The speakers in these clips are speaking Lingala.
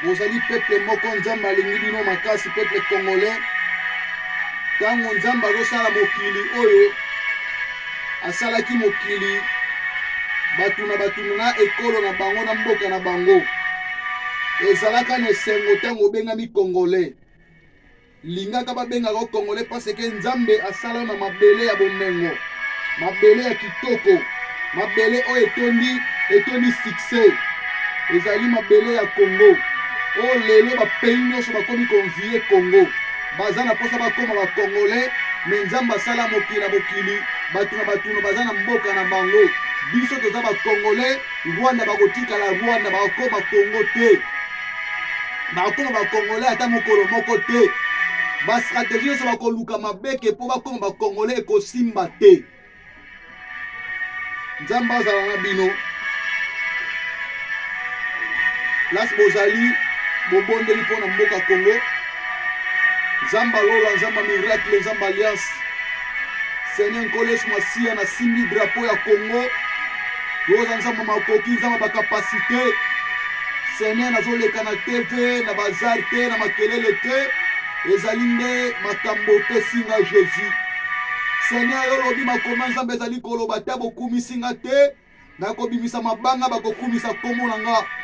bozali peple moko nzambe alingi bino makasi peple congolais ntango nzambe azosala mokili oyo asalaki mokili bato na bato na ekolo na bango na mboka na bango ezalaka na esengo ntango obengami congolais lingaka babengaka o congolais parce que nzambe asala na mabele ya bomengo mabele ya kitoko mabele oyo etondi etondi succès ezali mabele ya congo oyo lelo bapays nyonso bakomi konvie congo baza na mposa bakoma bacongolais me nzambe asala mokili na mokili bato na batuno baza na mboka na bango biso toza bacongolais rwanda bakotikala rwanda bakokoma congo te bakokoma bakongole ata mokolo moko te bastrategie nyonso bakoluka mabeke mpo bakoma bakongole ekosimba te nzambe azala na bino place bozali bobondeli mpo na mboka congo nzambe alola nzambe miracle nzambe alliance seigneur nkolo yesu masiya nasimbi drapo ya congo toza nzambe makoki nzambe bakapasite sene nazoleka na tv na bazar te na makelele te ezali nde makambo opesi nga jésus seigneur yo olobi makoma nzambe ezali koloba te bokumisi nga te nakobimisa mabanga bakokumisa nkombo na nga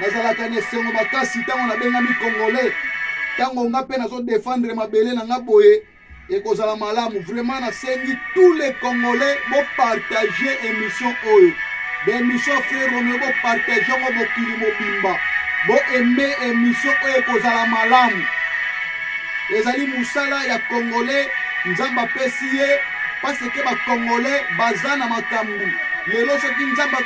nazalaka na esengo makasi ntango nabengami congolais ntango nga mpe nazodefendre mabele na nga boye ekozala malamu vraiment nasengi tous les congolais bopartage émission oyo baémission frère romeo bopartage yango mokili mobimba boaime émission oyo ekozala malamu ezali musala ya congolais nzambe apesi ye paseke bacongolais baza na makambo lelo soki nzambe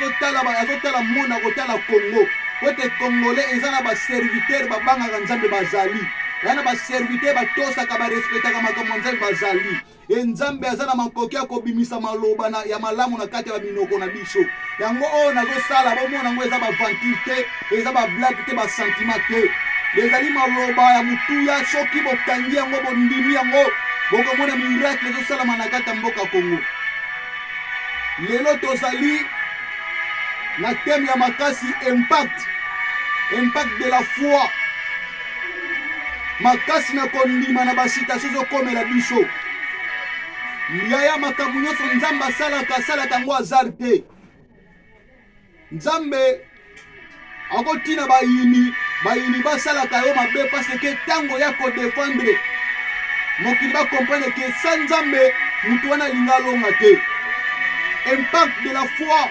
azotala mona kotala congo po ete congolais eza na baservitere babangaka nzambe bazali eza na baservitere batosaka barespetaka makambo ya nzambe bazali e nzambe aza na makoki ya kobimisa maloba na, ya malamu na kati ya baminoko na biso yango oyo nazosala bomona yango eza baventure te eza bablage te basentiment te ezali maloba ya motuya soki bokangi yango bondimi yango bokomona miracle ezosalama na kati ya mboka kongo lelo tozali na teme ya makasi impact impact de la foi makasi na kondima na basitasio ezokomela biso yaya makambo nyonso nzambe asalaka asalaka yango azar te nzambe akotina bayini bayini basalaka yo mabe parce ke ntango ya kodefendre mokili bakomprendre ke sa nzambe moto wana alinga alonga te impact de la foi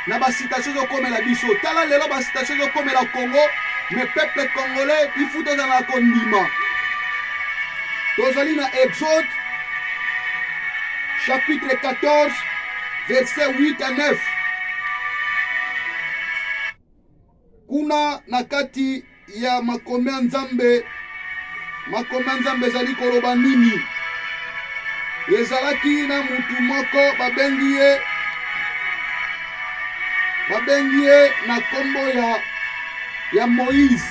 na ba situation ezokomela biso tala lelo ba situation ezokomela congo mais peuple congolais ifu tozala na kondima tozali na exode chapitre 14 verset 8 à 9 Kuna na kati ya makomi ya Nzambe, makomi ya Nzambe ezali koloba nini? Ezalaki na mutu moko babengi ye babengi ye na nkombo ya, ya Moïse.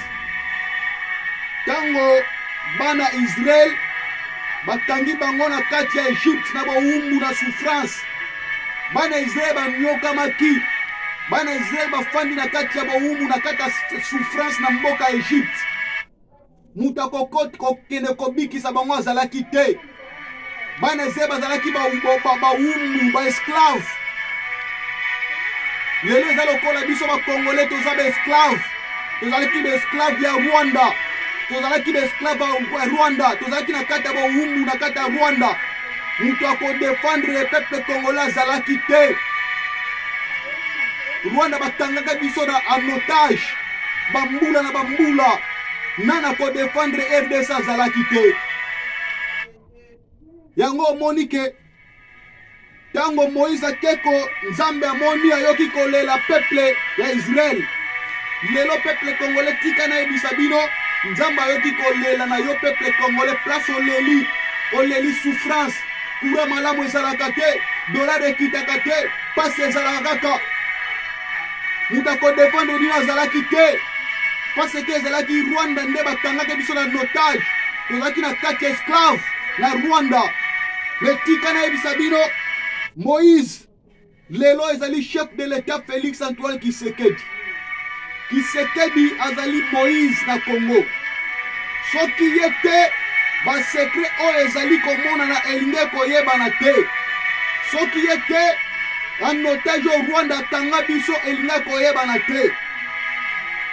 Ntango bana Israel bakangi bango na kati ya Egypte na bowumbu na souffrance bana Israël banyokamaki bana Israël bafandi na kati ya bowumu na kati ya souffrance na mboka ya Egypte moto akokoti kokende kobikisa bango azalaki te bana Israël bazalaki bawumbu baesclave lelo eza lokola biso bakongole toza baesclave tozalaki baesclave ya rwanda tozalaki baesclave ya rwanda tozalaki na kati ya bowumbu na kati ya rwanda moto ya kodefendre peuple congolais azalaki te rwanda bakangaka biso na en otage bambula na bambula nani akodefendre rdc azalaki te yango omoni ke ntango moïse akeko nzambe amoni ayoki kolela peuple ya israele lelo peuple congolais tika nayebisa bino nzambe ayoki kolela na yo peuple congolais place oleli oleli souffrance kura malamu ezalaka te dolare ekitaka te mpasi ezalaka kaka moto akodefendre nino azalaki te mpasi eke ezalaki rwanda nde bakangaki biso na notage tozalaki na kati ya esclave na rwanda metika nayebisa bino moïse Lelo ezali chef de l'etat Felix Antoine Kisekedi. Kisekedi azali Moïse na Congo. Soki ye te basekret oyo ezali komonana elingi koyebana te. Soki ye te banotage oyo Rwanda atanga biso elingi koyebana te.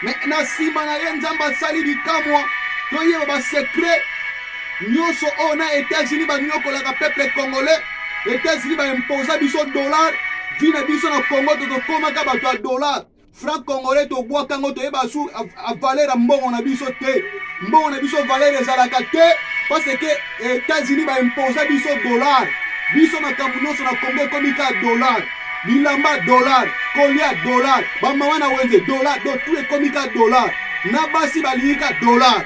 Me na nsima na ye Nzambe asali bikamwa toyeba basekret Nyoso oyo na Etats-Unis ba nyokolaka peuple congolais. Etats-Unis ba imposa biso dollar. Vie na biso na Congo to tokomaka bato ya dollar. Franc congolais to bwaka ngo to yeba su a valeur mbongo na biso te. Mbongo na biso valeur ezalaka te parce que Etats-Unis ba imposa biso dollar. Biso makambo nyoso na Congo ekomi ka dollar. bilamba dollar kolia dollar bamama na wenze dollar do tout ekomi ka dollar na basi balingi ka dollar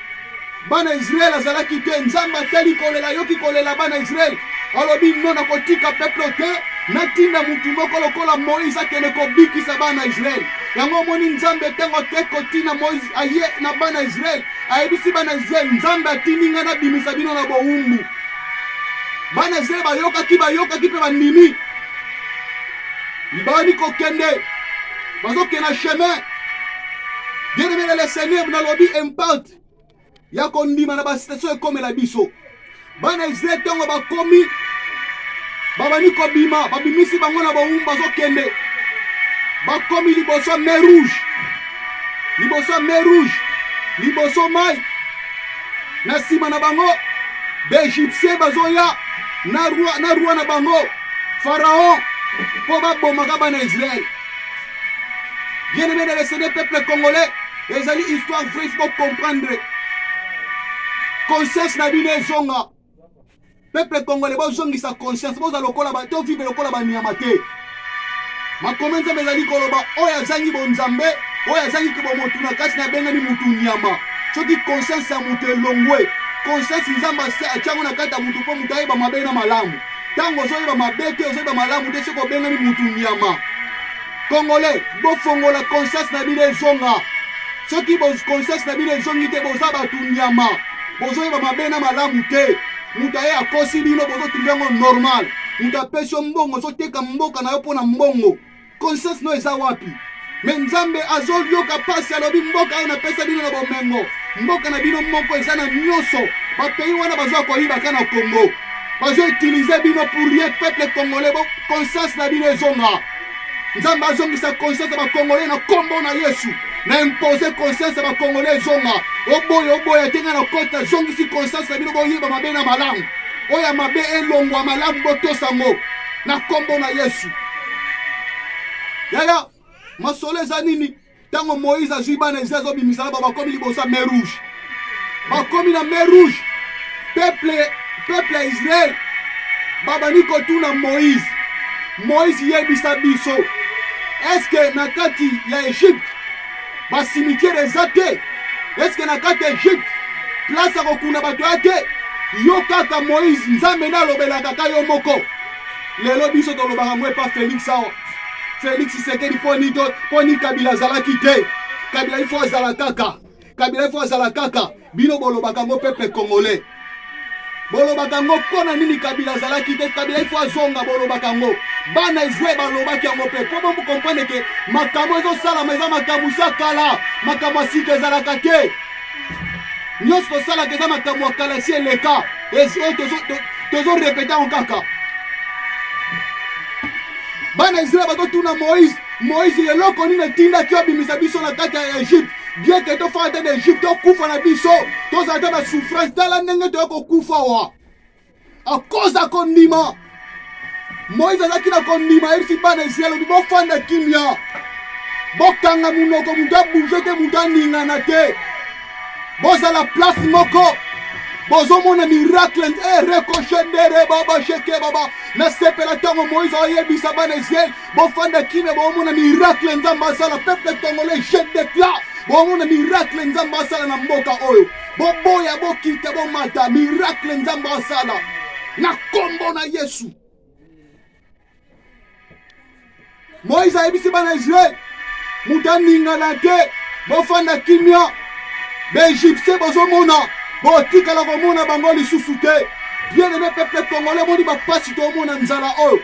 bana Israel azalaki te Nzambe atali kolela ayoki kolela bana Israel alobi no nakotika peuple te natinda motu moko lokola Moïse akende kobikisa bana Israel yango omoni Nzambe ntango ake kotina Moïse aye na bana Israel ayebisi bana Israel Nzambe atindi ngai nabimisa bino na bowumbu bana Israel bayokaki bayokaki mpe bandimi bani kokende bazokenda chemin bien aimé na le seigneur nalobi impact ya kondima na bastation ekomela biso bana israel ntango bakomi babandi kobima babimisi bango na bowumbu bazokende bakomi liboso mer rouge liboso mer rouge liboso mai na nsima na bango baegyptien bazoya na roi na bango pharaon mpo babomaka bana israele bien aimé de lesede peuple congolais ezali histoire vraie faut comprendre conscience na bino ezonga peuple congolais bozongisa conscience boza lokola to vive lokola banyama te makomi nzambe ezali koloba oyo azangi bonzambe oyo azangi kibomotu na kati na ebengani motu nyama soki conscience ya moto elongwe conscience nzambe atyango na kati ya moto mpo moto ayeba mabe na malamu ntango ozoyeba mabe te ozoyeba malamu te soki obengani mutu nyama congolais bofongola conscience na bino ezonga soki conscience na bino ezongi te boza bato nyama bozoyeba mabe na malamu te moto aye akosi bino bozotruve yango normal moto apesi yo mbongo ozoteka mboka na yo mpo na mbongo conscience no eza wapi me nzambe azoyoka mpasi alobi mboka oyo napesa bino na bomengo mboka na bino moko eza na nyonso bapei wana bazoya koyibaka na congo bazoutilize bino pour rien peuple congolais bo conscience na bino ezonga nzambe azongisa conscience ya bacongolais na nkombo na yesu na impose conscience ya bacongolais ezonga oboya oboya te ngai na kota zongisi conscience na bino boyeba mabe na malamu oyo ya mabe elongwa malamu botosango na nkombo na yesu yaya masolo eza nini ntango moïse azwi bana israel azobimisa na bango bakomi liboso ya mer rouge bakomi na mer rouge peuple peuple ya israel babandi kotuna moïse moïse yebisa biso eske na kati ya egypte ba cimetière eza te eske na kati ya egypte place akokuna bato ya te yo kaka moïse nzambe nde alobelaka ka yo moko lelo biso tolobaka ngo epa félix awa félix sekeli poni to poni kabila azalaki te kabila ifo azala kaka kabila ifo azala kaka Bino bolobaka ngo peuple congolais. Bolobaka ngo mpo na nini Kabila azalaki te Kabila ifo azonga bolobaka ngo bana ezwe balobaki yango mpe mpo bomukomprendre ke makambo ezosalama eza makambo sa kala makambo ya sika ezalaka te nyonso tosalaka eza makambo ya kala esi eleka tozorepete yango kaka bana israel bazotuna moïse moïse eloko nini etindaki obimisa biso na kati ya egypte bien ke tofanda te na egypte tokufa na biso tozala te na souffrance tala ndenge toya kokufa wa akoza kondima moïse azalaki na kondima ayebisi bana israel obi bofanda kimia bokanga monoko moto abouge te moto aningana te bozala place moko bozomona miracle e eh, rekoshedere baba sheke baba nasepela ntango moïse ayebisa bana israel bofanda kimia bomona miracle nzambe asala peuple congolais je declare bomona miracle nzambe asala na mboka oyo boboya bokita bomata miracle nzambe asala na nkombo na yesu moïse ayebisi bana israele moto aningana te bofanda kimia baegyptien bozomona botikala komona bango lisusu te bien aime peuple congolais moni bapasi tomona nzala oyo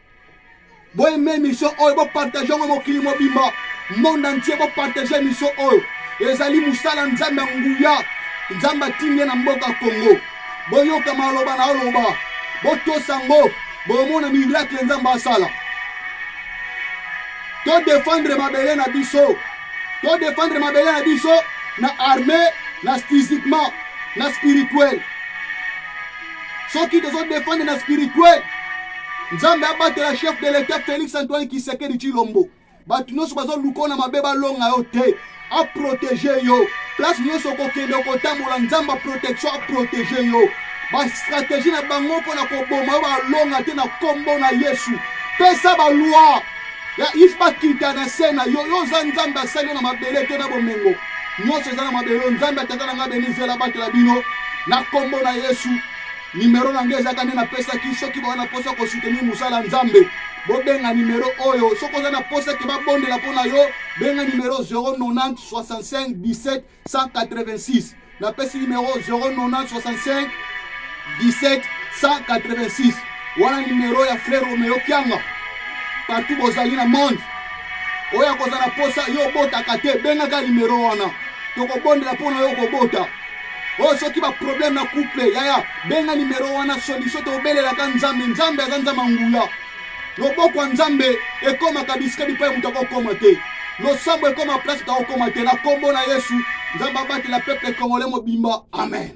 boyeme émission oyo bopartage yango mokili mobimba monde entier bopartage émission oyo ezali mosala nzambe ya nguya nzambe atindi ye na mboka kongo boyoka maloba na oloba botosa ngo bomona miracle nzambe asala todefendre mabele na biso todefendre mabele na biso na armée na physiquement na spirituel soki tozo defendre na spirituel nzambe abatela chef de l'etat félix antoine kisekedi chilombo bato nyonso bazoluka na mabe balonga yo te aprotege yo place nyonso okokende okotambola nzambe protection aprotege yo bastrategie na bango mpo na koboma yo balonga te na nkombo na yesu pesa balwa ya if bakita na se na yo yo oza nzambe asali yo na mabele te na bomengo nyonso eza na mabelo nzambe ya tata na ngai beni zela batela bino na nkombo na yesu nimero na ngai ezalaka nde napesaki soki baza na mposa kosoutenir mosala nzambe bobenga nimero oyo soki oza na mposa ete babondela mpo na yo benga nimero 090 65 17 186 napesi nimero 090 65 17 186 wana numero ya frère Romeo Kianga partout bozali na monde oyo akozala na posa yo obotaka te bengaka numero wana tokobondela mpo na yo kobota oyo oh, soki baproblème na couple yaya benga numero wana solution tobelelaka nzambe nzambe aza nzambe angula loboko ya nzambe ekomaka bisika bipai moto akokoma te losambo ekoma place moto akokoma te na nkombo na yesu nzambe abatela peuple congolais mobimba amen